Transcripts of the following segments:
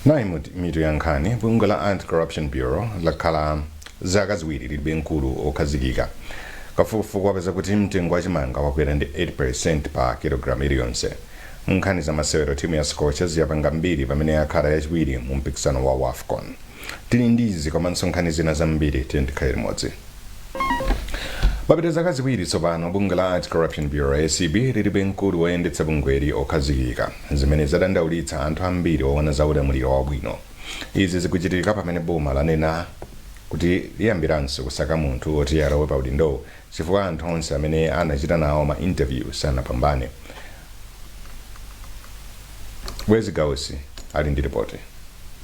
nayi mitu ya nkhani bungwe la anti-corruption bureau lakhala zaka ziwiri lilibe mkulu okhazikika kafukufuku wapeza kuti mtengo wa chimanga wakwera ndi 8% pa kilogalamu iliyonse Munkhani za masewero timu ya Scorchers yapanga mbiri pamene yakhala yachiwiri mu mpikisano wa Wafcon. Tili ndi izi komanso nkhani zina zambiri tikhale limodzi. Papita zaka ziwiri tsopano bungwe la Anti-Corruption Bureau, acb, lilibe mkulu woyendetsa bungweli okhazikika, zimene zadandaulitsa anthu ambiri oona za ulamuliro wabwino. Izi zikuchitika pamene boma lanena kuti liyambiranso kusaka munthu woti alowe pa udindowu chifukwa anthu onse amene anachita nawo ma interview sanapambane. Bwezi Gausi ali ndi lipoti.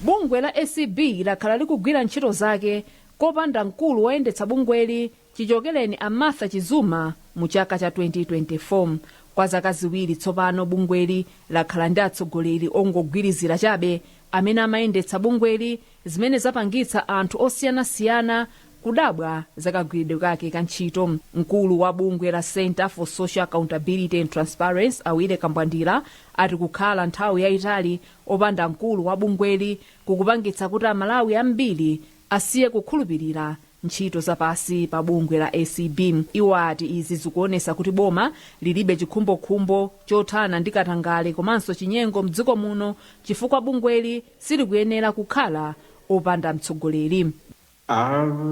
Bungwe la acb lakhala likugwira ntchito zake kopanda mkulu woyendetsa bungweli chichokereni a Martha Chizuma mu chaka cha 2024. Kwa zaka ziwiri tsopano bungweli lakhala ndi atsogoleri ongogwirizira chabe amene amayendetsa bungweli zimene zapangitsa anthu osiyanasiyana kudabwa za kagwiridwe kake ka ntchito. Mkulu wa bungwe la Centre for Social Accountability and Transparency, a Willy Kambwandira, ati kukhala nthawi yaitali opanda mkulu wa bungweli kukupangitsa kuti Amalawi ambiri asiye kukhulupirira ntchito za pansi pa bungwe la acb. Iwo ati izi zikuonetsa kuti boma lilibe chikhumbokhumbo chothana ndi katangale komanso chinyengo m'dziko muno chifukwa bungweli silikuyenera kukhala opanda mtsogoleri.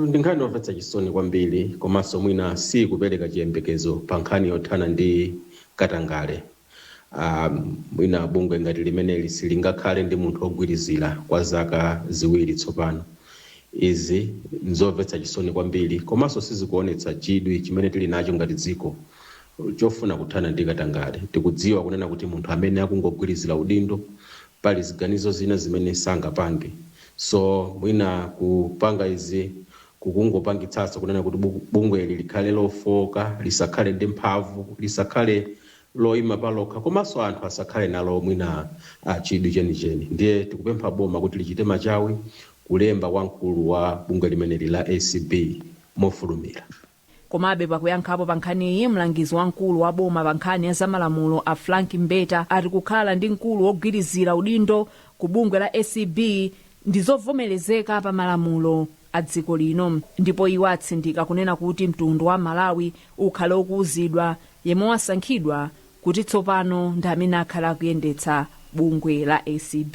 Ndi nkhani yomvetsa chisoni kwambiri komanso mwina siikupereka chiyembekezo pa nkhani yothana ndi katangale. a Mwina bungwe ngati limeneli silingakhale ndi munthu wogwirizira kwa zaka ziwiri tsopano. Izi n'zomvetsa chisoni kwambiri komanso sizikuonetsa chidwi chimene tili nacho ngati dziko chofuna kuthana ndi katangale. Tikudziwa kunena kuti munthu amene akungogwirizira udindo pali ziganizo zina zimene sangapange so mwina kupanga izi kukungopangitsanso kunena kuti bungweli likhale lofooka lisakhale ndi mphamvu lisakhale loima palokha komanso anthu asakhale nalo mwina chidwi chenicheni ndiye tikupempha boma kuti lichite machawi kulemba wamkulu wa bungwe limeneli la acb mofulumira. Komabe, pakuyankhapo pa nkhaniyi, mlangizi wamkulu wa boma pa nkhani ya zamalamulo a Frank Mbeta ati kukhala ndi mkulu wogwirizira udindo ku bungwe la acb ndi zovomerezeka pa malamulo a dziko lino ndipo iwo atsindika kunena kuti mtundu wa Malawi ukhale ukuuzidwa yemwe wasankhidwa kuti tsopano ndi amene akhale akuyendetsa bungwe la acb.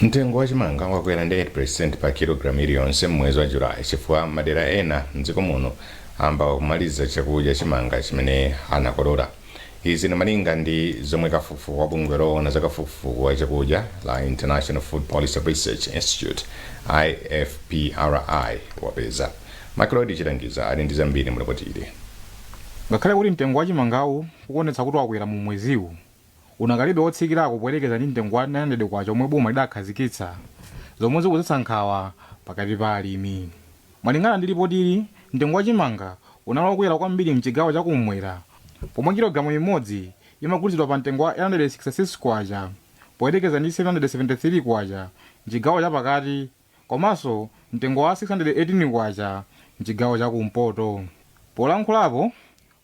Mtengo wa chimanga wakwera ndi 8% pa kilogalamu iliyonse m'mwezi wa July chifukwa madera ena m'dziko muno ayamba kumaliza chakudya chimanga chimene anakolola. Izi ndi malinga ndi zomwe kafukufuku wa bungwe loona za kafukufuku wa chakudya la International Food Policy Research Institute, IFPRI, wapeza. Macleod Chilangiza ali ndi zambiri mu lipotili. Ngakhale kuti mtengo wa chimangawu ukuonetsa kuti wakwera mu mweziwu, unakalibe wotsikirako poyerekeza ndi mtengo wa K900 omwe boma lidakhazikitsa, zomwe zikudzetsa nkhawa pakati pa alimi. Malingana ndi lipotili, mtengo wa chimanga unali wokwera kwambiri m'chigawo cha kummwera pomwe kilogalamu imodzi imagulitsidwa pa mtengo wa K866 poyerekeza ndi K773 m'chigawo cha pakati komanso mtengo wa K618 m'chigawo cha kumpoto. Polankhulapo,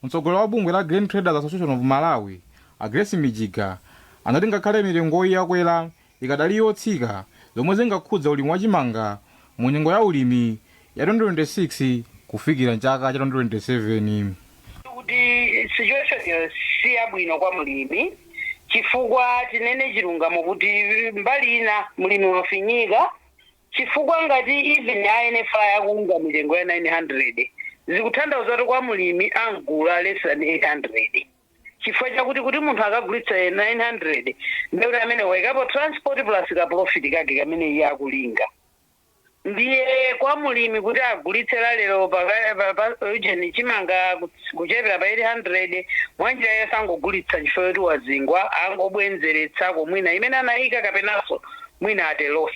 mtsogoleri wa bungwe la Grain Traders Association of Malawi, a Grace Mijiga, anati ngakhale mitengoyi yakwera, ikadali yotsika zomwe zingakhudza ulimi wa chimanga mu nyengo ya ulimi ya 2026 kufikira m'chaka cha 2027. Kuti situation yo si yabwino kwa mlimi chifukwa tinene chilungamo kuti mbali ina mlimi wafinyika chifukwa ngati even a NFRA akuunga mitengo ya 900 zikutanthauza kuti kwa mlimi amugula less than 800 chifukwa chakuti kuti munthu akagulitsa 900 ndekuti amene waikapo transport plus ka profit kake kamene iye akulinga Ndiye kwa mulimi kuti agulitse la lero pa ka- pa- pa ujeni chimanga kuts- kuchepera pa 800 mwanjira iye wangogulitsa chifukwa yoti wazingwa angobwenzeretsako mwina imene anayika kapenanso mwina at a loss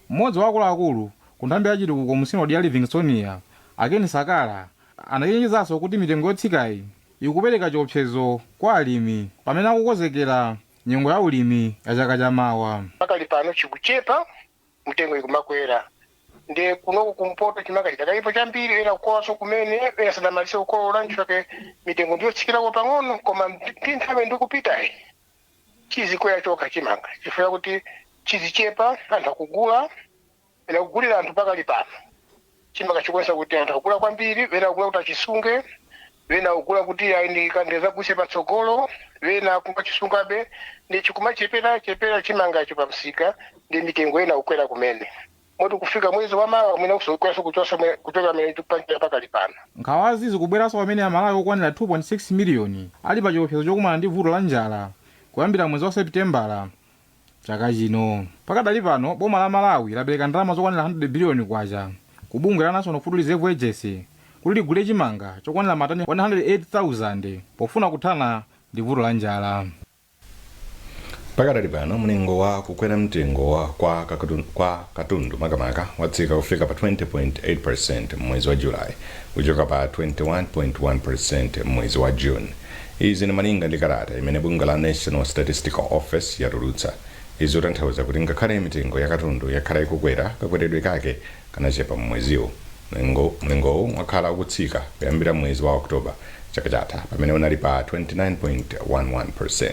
Mmodzi wa akuluakulu ku nthambi ya chitukuko mu sinodi ya Livingstonia, a Ken Sakala, anachenjezanso kuti mitengo yotsikayi ikupereka chiopsezo kwa alimi pamene akukonzekera nyengo ya ulimi ya chaka chamawa. Pakali pano chikuchepa mitengo ikumakwera ndiye kunoko kumpoto chimanga chidakalipo chambiri ena akukololanso kumene ena sadamalize kukolola nchake mitengo ndiyotsikirako pang'ono koma ndi nthawi ikupitayi chizikwera chokha chimanga chifukwa kuti chizichepa anthu akugula ena kugulira anthu pakali pano chimanga chikuonesa kuti anthu akugula kwambiri wena akugula kuti achisunge wena akugula kuti ayi ndikadzagulitse patsogolo wena akumachisungabe ndi chikumachepera chepera chimangacho pa msika ndi mitengo inayamba kukwera kumene moti kufika mwezi wa mawa mwina kudzakwera kuchosa mwe- kuchoka mmene tikupangira pakali pano nkhawazi zikubweranso pamene amalawi okwanira 2.6 miliyoni ali pa chiopsezo chokumana ndi vuto la njala kuyambira mwezi wa sepitembala chaka chino. Pakadali pano boma la Malawi lapereka ndalama zokwanira 100 biliyoni kwacha ku bungwe la National Food Reserve Agency kuti ligule chimanga chokwanira matani 108,000 pofuna kuthana ndi vuto la njala. Pakadali pano mlingo wa kukwera mtengo kwa kakatu- kwa katundu makamaka watsika kufika pa 20.8% m'mwezi wa July kuchoka pa 21.1% m'mwezi wa June Izi ndi malinga ndi kalata imene bungwe la National Statistical Office yatulutsa. Izi zikutanthauza kuti ngakhale mitengo ya katundu yakhala ikukwera, kakweredwe kake kanachepa m'mweziwu. Mlingowu wakhala ukutsika kuyambira m'mwezi wa October chaka chatha pamene unali pa 29.11%.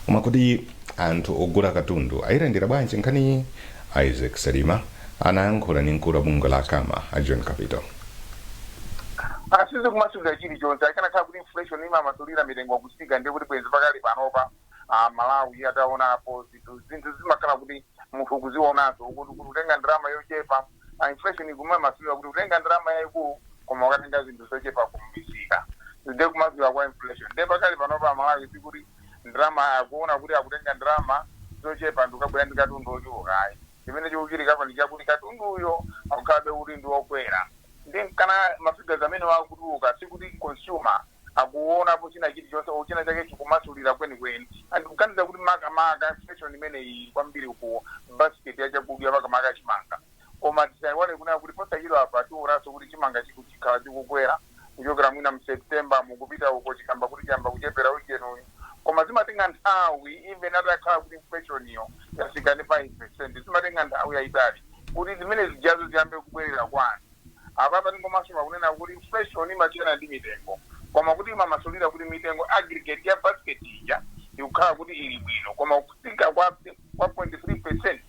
Koma kodi anthu ogula katundu ayilandira bwanji nkhaniyi? Isaac Salima anayankhula ndi mkulu wa bungwe la Cama, a John Kapito. sizikumasulira chilichonse akanakhala kuti inflation imamasulira mitengo kutsika ndiye kuti bwenzi pakali panopa amalawi ataonapo zinthu zinthu zimakhala kuti munthu ukuzionazo kuti kuti kutenga ndalama yochepa ah, inflation ikumamasulira kuti kutenga ndalama yayikulu koma ukatenga zinthu zochepa kumsika ndiye kumasulira kwa inflation ndiye pakali panopa amalawi sikuti ndalama akuona kuti akutenga ndalama zochepa nkukabwera ndi katundu ochuluka ayi Chimene chikuchitikapo ndi chakuti katunduyo akukhalabe kuti ndi okwera nde nkana ma figures amenewo akutuluka sikuti consumer akuonapo china chilichonse or china chake chikumasulira kwenikweni and ndikuganiza kuti makamaka inflation imeneyi ili kwambiri ku basket ya chakudya makamaka chimanga koma tisaiwale kunena kuti posachedwapa tionanso kuti chimanga chikhala chikukwera kuchokera mwina mu September mu kupita uko chikamba kuti chiyamba kuchepera ujeni uyu koma zimatenga nthawi even atakhala kuti inflation iyo yatsika ndi 5% zimatenga nthawi yayitali kuti zimene zijazo ziyambe kubwerera kwa anthu apapa tingomasulira kunena kuti inflation imasiyana ndi mitengo koma kuti imamasulira kuti mitengo aggregate ya basket ija ikukhala kuti ili bwino koma kutsika kwa kwa 0.3%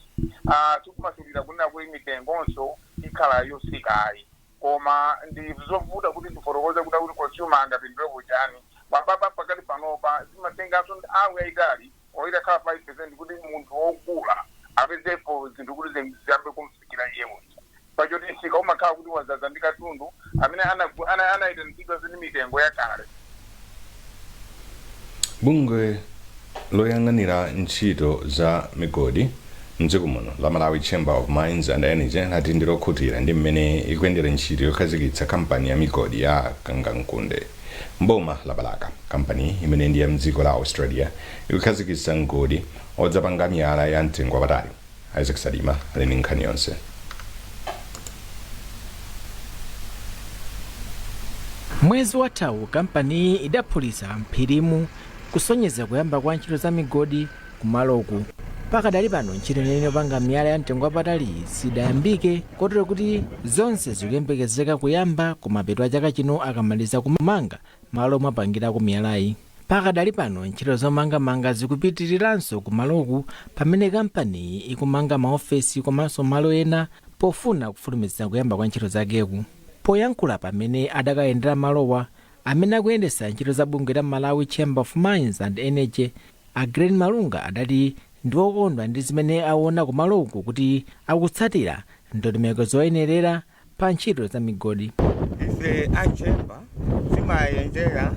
ah, sikumasulira kunena kuti mitengonso ikhala yotsika ayi Koma ndi zovuta kuti ndifotokoze kunena kuti consumer angapindulepo chani. Apapa pakali panopa zimatenganso nthawi yayitali or itakhala 5% kuti munthu wogula apezepo zinthu kuti ziyambe kumfikira iye uja. Pachoti msika umakhala kuti wadzadza ndi katundu amene anaitanitsidwanso ndi mitengo yakale. bungwe loyang'anira ntchito za migodi mdziko muno la malawi chamber of mines and energy lati ndi lokhutira ndi mmene ikuyendera ntchito yokhazikitsa kampani ya migodi ya kangankunde mboma la balaka kampani imene ndi ya mdziko la australia ikukhazikitsa mgodi odzapanga miyala ya mtengo wapatali Isaac Salima ali ndi nkhani yonse. Mwezi wathawu kampaniyi idaphulitsa mphirimu kusonyeza kuyamba kwa ntchito za migodi kumaloku. Pakadali pano ntchito yeniyeni yopanga miyala ya mtengo wapatali sidayambike kotero kuti zonse zikuyembekezeka kuyamba kumapeto a chaka chino akamaliza kumanga Malo omapangirako miyalayi. Pakadali pano ntchito zomangamanga zikupitiriranso kumaloku pamene kampaniyi ikumanga maofesi komanso malo ena pofuna kufulumizitsa kuyamba kwa ntchito zakeku. Poyankhula pamene adakayendera malowa, amene akuyendetsa ntchito za bungwe la Malawi Chamber of Mines and Energy, a Glen Malunga adati ndi okondwa ndi zimene awona kumaloku kuti akutsatira ndondomeko zoyenerera, pa ntchito za migodi. ife a Chamber timayendera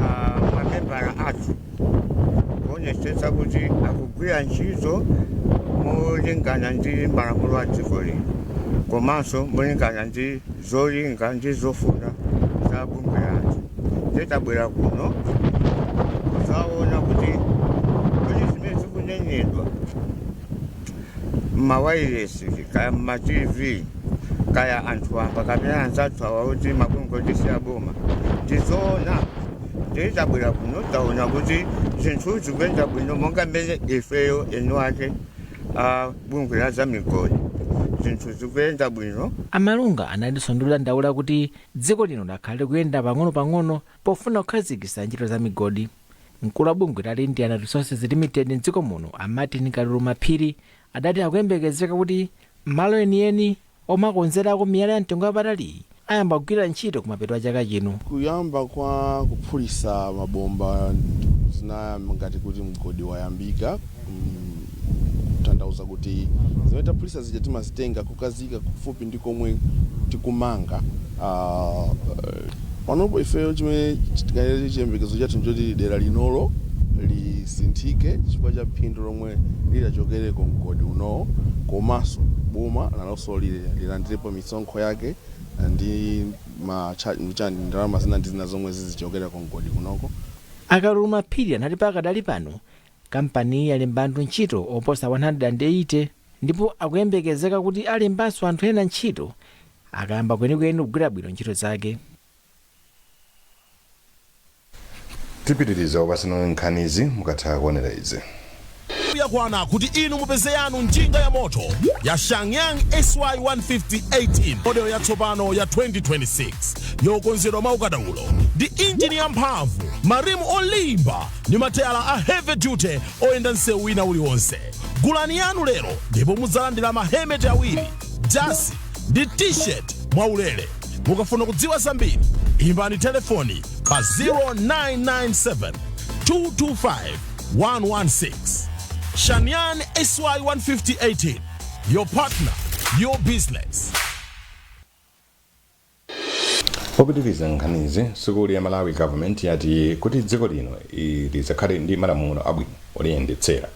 ah, mamembala athu kuonetsetsa kuti akugwira ntchito molingana ndi malamulo a dziko lino komanso molingana ndi zolinga ndi zofuna za bungwe lathu ndiye tabwera kuno kudzaona kuti kodi zimene zikunenedwa mmawailesi kaya mma tv kaya anthu wamba kapena anzathu awa a mabungwe oti si aboma ndizoona ndiye tabwera kuno taona kuti zinthu zikuyenda bwino monga mmene ifeyo eni ake a bungwe la za migodi zinthu zikuyenda bwino A Malunga analinso ndi dandaulo kuti dziko lino lakhala likuyenda pang'onopang'ono pofuna kukhazikitsa ntchito za migodi. Mkulu wa bungwe la Lindian Resources Limited m'dziko muno a Martin Kaluluma Phiri adati akuyembekezeka kuti malo enieni omakonzerako miyala ya mtengo wapataliyi ayamba kugwira ntchito kumapeto a chaka chino. kuyamba kwa kuphulisa mabomba zinayamba ngati kuti mgodi wayambika mm, kutanthauza kuti zimene taphulitsa zija timazitenga kukaziika kufupi ndi komwe tikumanga. Panopo ifeyo chimene tinganene, chiyembekezo chathu n'choti dera linolo lisinthike chifukwa cha phindu lomwe litachokera ku mgodi unowo komanso boma nalonso lilandirepo misonkho yake ndi ndalama zina ndi zina zomwe zizichokera ku mgodi kunoko. A Kaluluma Phiri anati pakadali pano Kampaniyi yalemba anthu ntchito oposa 180 ndipo akuyembekezeka kuti alembanso anthu ena ntchito akayamba kwenikweni kugwira bwino ntchito zake. Tipitiriza kupatsirani nkhanizi mukatha kuonera izi. Nthawi yakwana kuti inu mupeze yanu njinga yamoto ya Shanyang SY-150 18, model yatsopano ya 2026, yokonzedwa mwaukadaulo, ndi injini yamphamvu, marimu olimba, ndi mateyala a heavy duty oyenda msewu wina uliwonse gulani yanu lero ndipo mudzalandira mahemeti awiri jasi ndi t-shirt mwaulere mukafuna kudziwa zambiri imbani telefoni pa 0997 225 116 shanyang sy 15018 your partner your business Popitiliza nkhanizi, sukulu ya Malawi Government yati kuti dziko lino lizakhale ndi malamulo abwino oliyendetsera,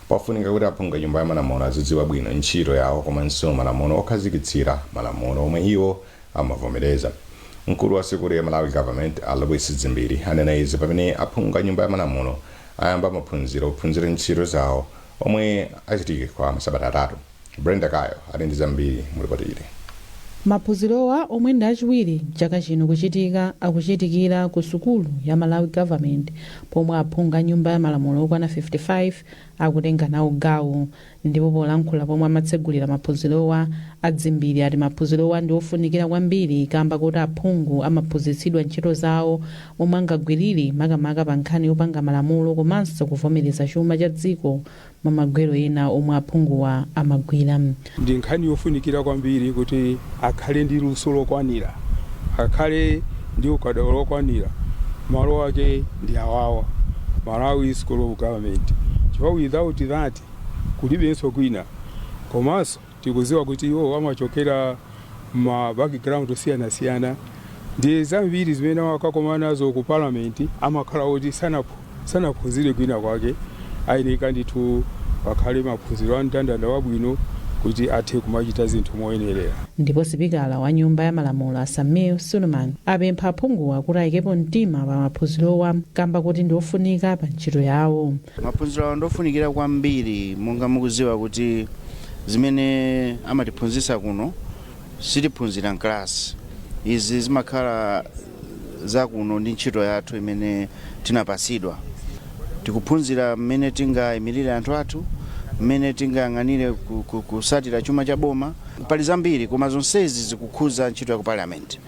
pafunika kuti aphungu a nyumba ya malamulo azidziwa bwino ntchito yawo komanso malamulo okhazikitsira malamulo omwe iwo amavomereza. Mkulu wa sukulu ya Malawi Government, a Lewis Dzimbiri, anena izi pamene aphungu a nyumba ya malamulo ayamba maphunziro ophunzira ntchito zawo omwe achitike kwa masabata atatu. Brenda Kayo ali ndi zambiri mu lipoti ili. Maphunzirowa omwe ndi achiwiri chaka chino kuchitika akuchitikira ku sukulu ya Malawi Government pomwe aphungu a nyumba ya malamulo okwana 55 akutenga nawo gawo. Ndipo polankhula pomwe amatsegulira maphunzirowa, a Dzimbiri ati maphunzirowa ndi ofunikira kwambiri kamba koti aphungu amaphunzitsidwa ntchito zawo momwe angagwirire makamaka pa nkhani yopanga malamulo komanso kuvomereza chuma cha dziko m'magwero ena omwe aphunguwa amagwira. Ndi nkhani yofunikira kwambiri kuti akhale ndi luso lokwanira, akhale ndi ukadaulo lokwanira, malo ake ndi awawa, Malawi School of Government, chifukwa without that kulibenso kwina komanso, Tikuziwa kuti iwo amachokera mma background osiyanasiyana ndiye zambiri zimene amakakomana nazo ku parliament amakhala kuti sanaphunzire kwina kwake ayeneka ndithu pakhale maphunziro a mndandanda wabwino kuti athe kumachita zinthu moyenerera. Ndipo sipikala wa nyumba ya malamulo a Sameer Suleman apempha aphunguwa kuti ayikepo mtima pa maphunzirowa kamba koti ndi ofunika pa ntchito yawo. Maphunziro awa ndi ofunikira kwambiri monga mukuziwa kuti zimene amatiphunzitsa kuno sitiphunzira mkalasi izi zimakhala zakuno ndi ntchito yathu imene tinapasidwa tikuphunzira mmene tingayimirire anthu athu mmene tingayang'anire ku- ku- kusatira chuma cha boma pali zambiri koma zonsezi zikukhuza ntchito ya ku parliament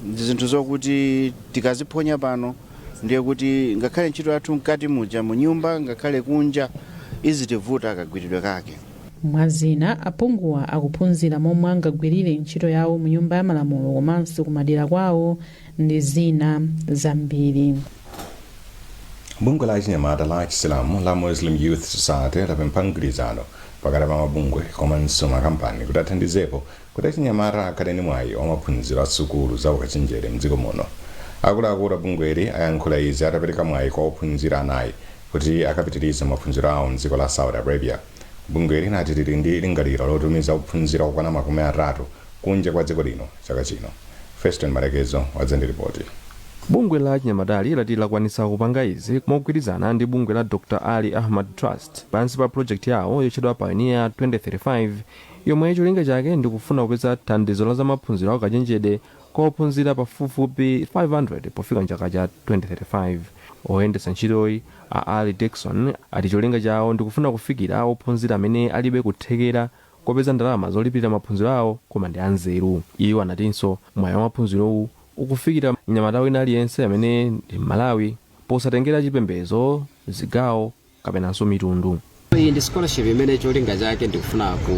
ndi zinthu zokuti tikaziphonya pano ndiye kuti ngakhale ntchito yathu mkati muja mu nyumba ngakhale kunja izitivuta kagwiridwe kake mwa zina aphunguwa akuphunzira momwe angagwirire ntchito yawo mu nyumba ya malamulo komanso kumadera kwawo ndi zina zambiri bungwe la achinyamata la chisilamu la muslim youth society lapempha mgwirizano pakati pa mabungwe komanso makampani kuti athandizepo Kuti achinyamata akhale ndi mwayi wa maphunziro a sukulu za ukachenjede mdziko muno, akuluakulu a bungweli ayankhula izi atapereka mwayi kwa ophunzira anayi kuti akapitirize maphunziro awo mdziko la Saudi Arabia. Bungweli lati lili ndi lingaliro lotumiza ophunzira okwana makumi atatu kunja kwa dziko lino chaka chino. Feston Malekezo wadza ndi lipoti. Bungwe la achinyamatali lati lakwanitsa kupanga izi mogwirizana ndi bungwe la Dr Ali Ahmad Trust pansi pa project yawo yotchedwa Pioneer 2035 yomwe cholinga chake ndi kufuna kupeza thandizo la zamaphunziro a ukachenjede kwa ophunzira pafupifupi 500 pofika m'chaka cha 2035. Oyendetsa ntchitoyi, a Allie Dickson, ati cholinga chawo ndi kufuna kufikira ophunzira amene alibe kuthekera kopeza ndalama zolipirira maphunziro awo koma ndi anzeru. Iwo anatinso mwayi wa maphunzirowu ukufikira mnyamata wina aliyense amene ndi Mmalawi posatengera chipembedzo, zigawo, kapenanso mitundu. Iyi ndi scholarship imene cholinga chake ndikufuna ku,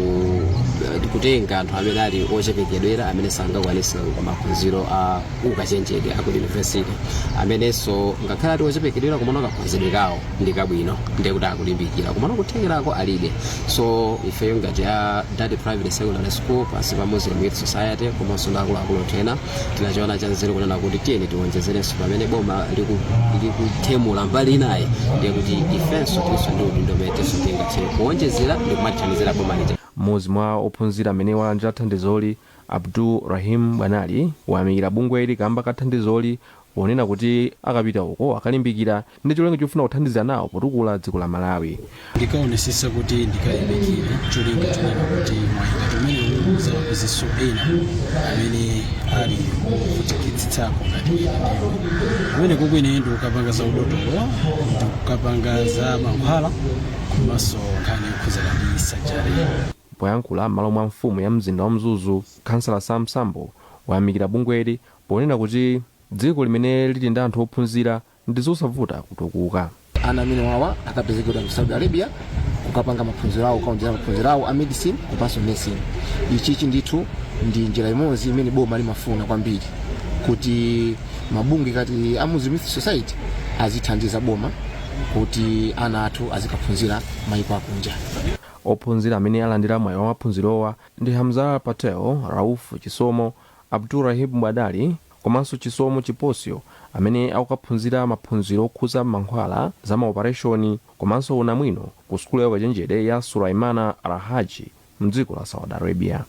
eh, kutenga anthu amene ali ochepekedwera amene sangakwanise maphunziro a ukachenjede aku university amenenso ngakhale ali ochepekedwera komano kakhonzedwe kawo ndi kabwino ndiye kuti akulimbikira komano kuthekerako alibe so ifeyo ngati a dati private secondary school pansi pa muslim youth society komanso ndi akuluakulu ena tinachiona cha nzeru kunena kuti tiyeni tiwonjezerenso pamene boma liku- likupepula mbali inayi ndiye kuti ifenso tilinso ndi udindo umene tinso tingathe kuwonjezera ndi kumathandizira boma lija mmodzi mwa ophunzira amene walandira thandizoli abdul rahim bwanali wayamikira bungweli kamba ka thandizoli Ponena kuti akapita uko akalimbikira ndi cholinga chofuna kuthandizira nawo potukula dziko la Malawi. Ndikaonesesa kuti ndikalimbikire cholinga chonena kuti mwayi ngati umenewu uzawapezenso ena amene ali ovutikitsitsapo ngati ine ndili. Kumeneko kwene ndikukapanga za udotolo, ndikukapanga za mankhwala komanso nkhani yokhudzana ndi surgery. Poyankhula m'malo mwa mfumu ya mzinda wa Mzuzu, khansala Sam Sambo wayamikira bungweli ponena kuti dziko limene lili ndi anthu ophunzira ndi zosavuta kutukuka. Ana amenewawa akapezekera ku Saudi Arabia kukapanga maphunziro awo kukaonjera maphunziro awo a medicine komanso nursing. Ichichi ndithu ndi njira imodzi imene boma limafuna kwambiri kuti mabungwe ngati a Muslim Youth Society azithandiza boma kuti ana athu azikaphunzira mayiko akunja. Ophunzira amene alandira mwayi wa maphunzirowa ndi Hamzah Patel, Rauf Chisomo, Abdul-Rahib Mwadali komanso Chisomo Chiposyo amene akukaphunzira maphunziro okhudza mankhwala, za maopareshoni komanso unamwino ku sukulu ya ukachenjede ya Sulaimana Al-Rajhi mdziko la Saudi Arabia.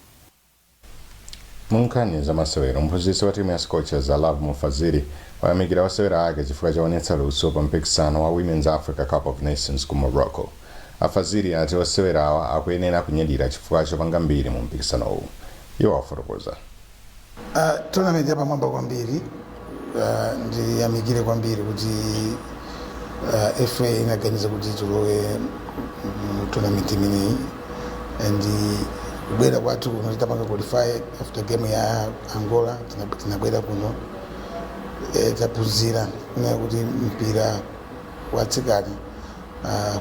Mu nkhani za masewero, mphunzitsi wa timu ya Scorchers a Lovemore Fazili wayamikira osewera ake chifukwa chowonetsa luso pa mpikisano wa Women's Africa Cup of Nations ku Morocco. A Fazili ati osewerawa akuyenera kunyadira chifukwa chopanga mbiri mu mpikisanowu. Iwo afotokoza. Tournament yapamwamba kwambiri, ndiyamikire kwambiri kuti FA inaganiza kuti tilowe mu tournament imeneyi and kubwera kwathu kuno titapanga qualify after game ya Angola tinabwera kuno taphunzira kunena kuti mpira watsikana Ah,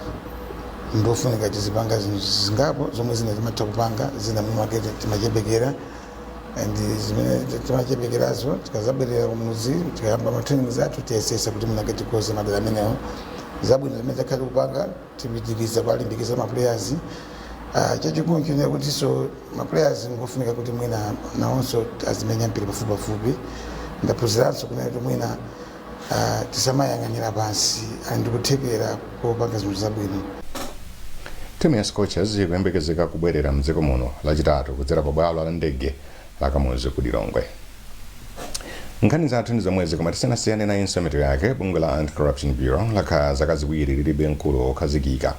ndofunika tizipanga zinthu zingapo zomwe zina timatha kupanga zina mwinamwake timachepekera and zimene ti- timachepekerazo tikazabwerera kumuzi tikayamba matrainings athu tiyesesa kuti mwinamwake tikonze madera amenewo zabwino zimene takhala tikupanga tipitiriza kuwalimbikitsa maplayers Ah, chachikulu nchonena kutinso maplayers ngofunika kuti mwina nawonso azimenya mpira pafupipafupi ndaphunziranso kunena kuti mwina Ah, tisamayang'anire pansi ali ndi kuthekera kopanga zinthu zabwino timu ya scorchers ikuyembekezeka kubwerera mdziko muno lachitatu kudzera pa bwalo la ndege la kamuzu ku lilongwe nkhani zathu ndi zomwezi koma tisanasiyane nayinso mitu yake bungwe la anti corruption bureau lakhala zaka ziwiri lilibe mkulu wokhazikika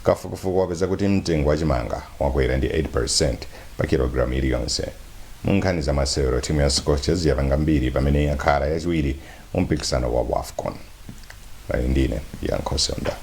kafukufuku wapeza kuti mtengo wa chimanga wakwera ndi 8 pa kilogramu iliyonse. Mu nkhani za masewero, timu ya Scorchers yapanga mbiri pamene yakhala yachiwiri mu mpikisano wa Wafcon. Munali ndi ine Yankho Seunda.